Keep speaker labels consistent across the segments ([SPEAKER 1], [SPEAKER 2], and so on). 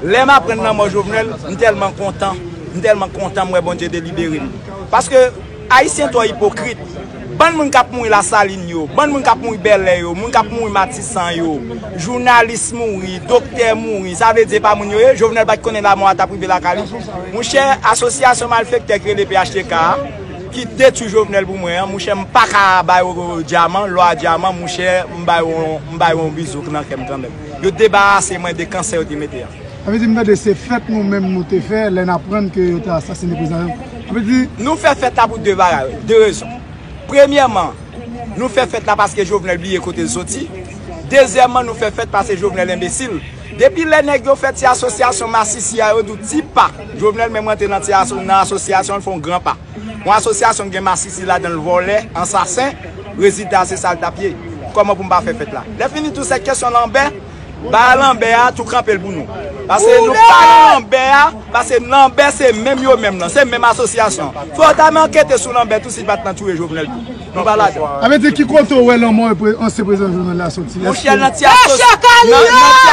[SPEAKER 1] Lèm aprann lanmò Jovenel, m tèlman kontan, m tèlman kontan m wè Bondye delibere m. Paske Ayisyen twò ipokrit. Bann moun kap mouri Lasalin yo, bann moun kap mouri Bèlè yo, moun kap mouri Matisan yo, jounalis mouri, doktè mouri, sa vle di e pa moun yo ye? Jovenel pat konnen lamò a tap rive lakay li? Mouchè, asosyasyon malfektè ki rele phtk a, ki detwi Jovenel pou mwen an, mouchè m paka bay ou dyaman, lò a dyaman, mouchè m bay ou yon bizouk nan kè m kanmèm. Yo debarase mwen de kansè yo te mete a. Sa vle di m tande se
[SPEAKER 2] fèt nou menm nou te fè lè n aprann ke yo te asasine prezidan Jovenel. Sa vle di. Nou fè fèt la pou
[SPEAKER 1] 2 bagay, 2 rezon. Premyèman, nou fè fèt la paske Jovenel bliye kote l soti. Dezyèman, nou fè fèt paske Jovenel enbesil. Depi lè nèg yo fè ti asosyasyon masisi a yo di w ti pa Jovenel menm rantre nan ti nan asosyasyon l fè yon gran pa. Yon asosyasyon ki gen masisi ladan l vòlè, ansasen, rezilta a se sa l t ap ye. Kòman pou m pa fè fèt la? Lèfini tou se kesyon lanbè, ba a lanbè a tou kanpe l pou nou. Pase nou pa nan lanbè a, pase lanbè se menm yo menm lan, se menm asosyasyon. Fò yo ta men ankete sou lanbè tou si l pa t nan touye Jovenel tou. Nou pa ladan l. Sa vle di ki kote w
[SPEAKER 2] wè lanmò ansyen prezidan Jovenel la soti? Monchè
[SPEAKER 1] nan ti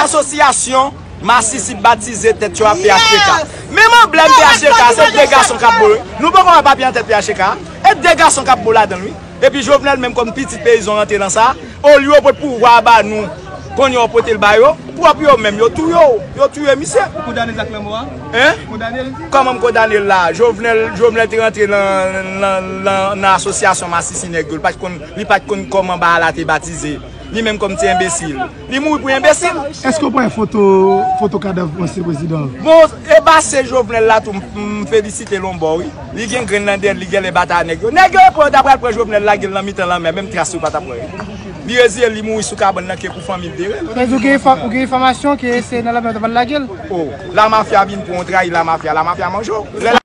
[SPEAKER 1] asosyasyon. Masisi batize tèt yo a phtk. Menm anblèm phtk a se 2 gason kap bo wi. Nou poko wè papye nan tèt phtk a? E 2 gason kap bo ladanl wi. Epi Jovenel menm kòm pitit peyizan rantre nan sa. Olye yo pot pouvwa a ba nou kounye yo potel ba yo. Pwòp yo menm yo touye w. Yo touye misye. Ou kondanel ak lanmò a?
[SPEAKER 3] Hein? Ou kondanel?
[SPEAKER 1] Kòman m kondanel la? Jovenel Jovenel te rantre nan asosyasyon masisi nèg yo. Li pat konn kòman ba a la te batize. Li menm kòm ti enbesil. Li mouri pou enbesil. Eske ou pa wè foto
[SPEAKER 2] foto kadav ansyen prezidan an? Bon e bassin
[SPEAKER 1] jovenel la tou m felisitel on bò wi, li gen grenn nan dèyèl li gèlè batay a nèg yo, nèg yo yo pran yo ta pral pran jovenel lagel nan mitan lanmè menm tras yo pa tap wè yo, li reziyel li mouri sou kabann nan ke pou fanmil terel. Sa vle di ou gen
[SPEAKER 2] enfòmasyon ke se
[SPEAKER 1] nan lanmè yo
[SPEAKER 2] ta pral
[SPEAKER 1] lagel? Oh la
[SPEAKER 2] mafia
[SPEAKER 1] vin pran
[SPEAKER 2] w
[SPEAKER 1] trayi la mafia
[SPEAKER 2] la mafia manje
[SPEAKER 1] w.